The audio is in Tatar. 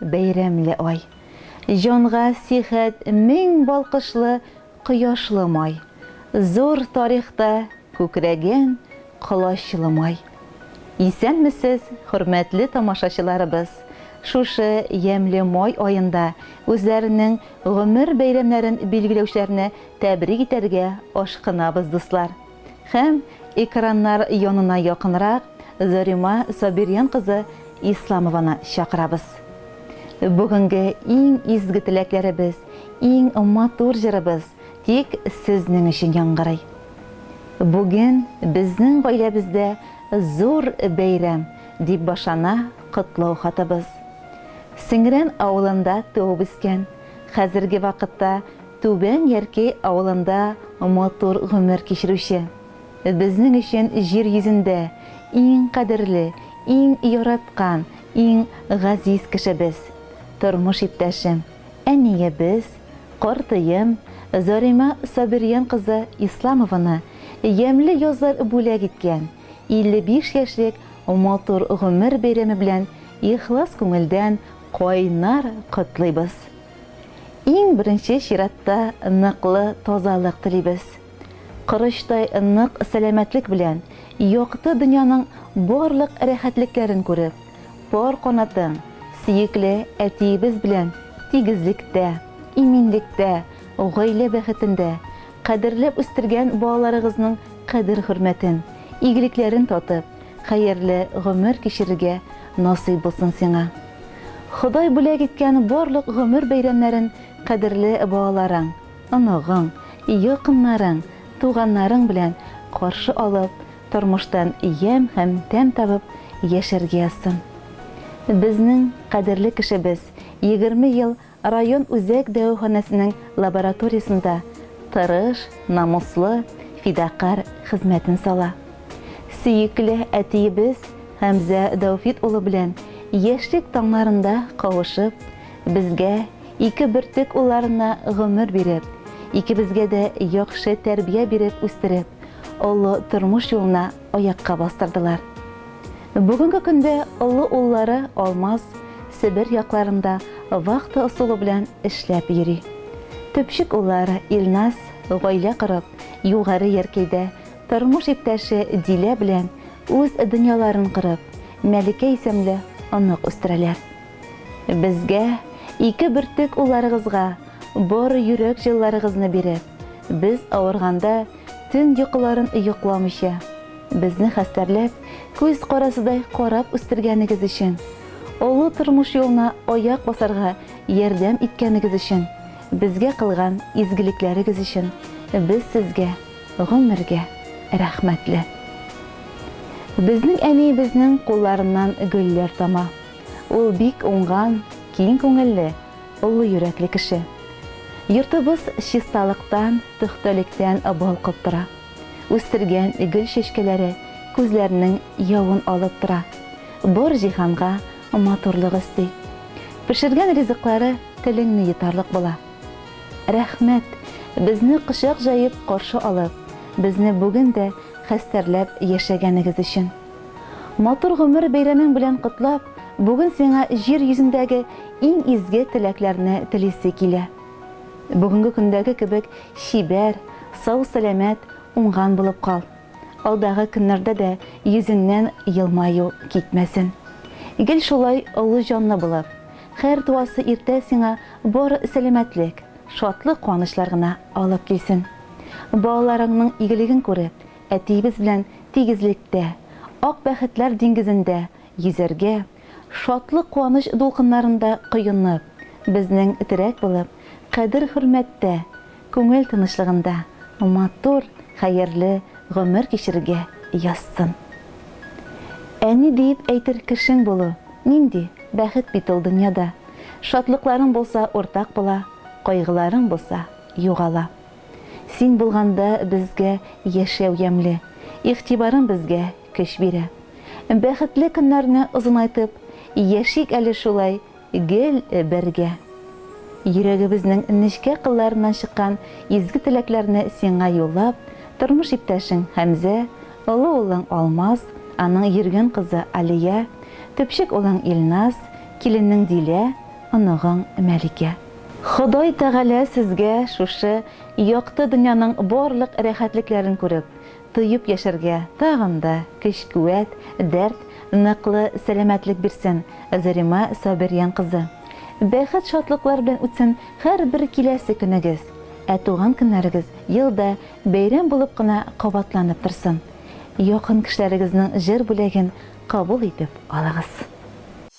Бәйрәмле ай. Җанга сихәт мең балкышлы кояшлы май. Зур тарихта күкрәгән колачлы май. Исәнмесез, хөрмәтле тамашачыларыбыз! Шушы ямьле май аенда үзләренең гомер бәйрәмнәрен билгеләүчеләрне тәбрик итәргә ашкынабыз, дуслар! Һәм экраннар янына якынрак Зарима Сабирьян кызы Исламованы чакырабыз. Бүгенге иң изге теләкләребез, иң матур җырыбыз тик сезнең өчен яңгырый. Бүген безнең гаиләбездә зур бәйрәм, дип башлана котлау хатыбыз. Сеңрән авылында туып-үскән, хәзерге вакытта Түбән Ярки авылында матур гомер кичерүче, безнең өчен җир йөзендә иң кадерле, иң яраткан, иң газиз кешебез, тормыш иптәшем, әниебез, картыем Зарима Сабирҗан кызы Исламованы ямьле язлар бүләк иткән 55 яшьлек матур гомер бәйрәме белән ихлас күңелдән кайнар котлыйбыз. Иң беренче чиратта ныклы тазалык телибез. Корычтай нык сәламәтлек белән якты дөньяның барлык рәхәтлекләрен күреп, пар канатың сөекле әтиебез белән тигезлектә, иминлектә, гаилә бәхетендә, кадерләп үстергән балаларыгызның кадер-хөрмәтен, игелекләрен татып, Хәерле гомер кичерергә насыйп булсын сиңа. Ходай бүләк иткән барлык гомер бәйрәмнәрен кадерле балаларың, оныгың, якыннарың, туганнарың белән каршы алып, тормыштан ямь һәм тәм табып яшәргә язсын. Безнең кадерле кешебез егерме ел Район үзәк дәваханәсенең лабораториясендә тырыш, намуслы, фидакарь хезмәтен сала. Сөекле әтиебез Хәмзә Дәүфит улы белән яшьлек таңнарында кавышып, безгә, ике бөртек улларына гомер биреп, икебезгә дә яхшы тәрбия биреп үстереп, олы тормыш юлына аякка бастырдылар. Бүгенге көндә олы уллары Алмаз Себер якларында вахта ысулы белән эшләп йөри. Төпчек уллары Илназ гаилә корып, Югары Яркәйдә тормыш иптәше Дилә белән үз дөньяларын корып, Мәликә исемле онык үстерәләр. Безгә, ике бөртек улларыгызга бар йөрәк җылыларыгызны биреп, без авырганда, Төн йокыларын йокламыйча, безне хәстәрләп, күз карасыдай карап үстергәнегез өчен, олы тормыш юлына аяк басарга ярдәм иткәнегез өчен, безгә кылган изгелекләрегез өчен без сезгә гомергә рәхмәтле. Безнең әниебезнең кулларыннан гөлләр тама. Ул бик уңган, киң күңелле, Олы йөрәкле кеше. Йортыбыз чисталыктан, пөхтәлектән балкып тора. Үстергән гөл чәчкәләре күзләрнең явын алып тора, бар җиһанга матурлык өсти. Пешергән ризыклары телеңне йотарлык була. Рәхмәт, безне кочак җаеп каршы алып, безне бүген дә хәстәрләп яшәгәнегез өчен! Матур гомер бәйрәмең белән котлап, бүген сиңа җир йөзендәге иң изге теләкләрне телисе килә. Бүгенге көндәге кебек чибәр, сау-сәламәт, уңган булып кал. Алдагы көннәрдә дә йөзеңнән елмаю китмәсен. Гел шулай олы җанлы булып, һәр туасы иртә сиңа бары сәламәтлек, шатлык-куанычлар гына алып килсен. Балаларыңның игелеген күреп, Әтиебез белән тигезлектә, ак бәхетләр диңгезендә йөзәргә, шатлык-куаныч дулкыннарында коенып, безнең терәк булып, кадер-хөрмәттә, күңел тынычлыгында матур, хәерле гомер кичерергә язсын. Әни диеп әйтер кешең булу, нинди бәхет бит ул дөньяда! Шатлыкларың булса, уртак була, кайгыларың булса, югала. Син булганда безгә яшәү ямьле, Игътибарың безгә көч бирә. Бәхетле көннәрне озынайтып, Яшик әле шулай гел бергә. Йөрәгебезнең нечкә кылларыннан чыккан изге теләкләрне сиңа юллап, тормыш иптәшең Хәмзә, олы улың Алмаз, аның йөргән кызы Алия, төпчек улың Илназ, киленең Дилә, оныгың Мәликә. Ходай Тәгалә сезгә шушы якты дөньяның барлык рәхәтлекләрен күреп, тоеп яшәргә тагын да көч-куәт, дәрт, ныклы сәламәтлек бирсен, Зарима Сабирҗан кызы! Бәхет-шатлыклар белән үтсен һәрбер киләсе көнегез, ә туган көннәрегез елда бәйрәм булып кына кабатланып торсын! Якын кешеләрегезнең җыр бүләген кабул итеп алыгыз!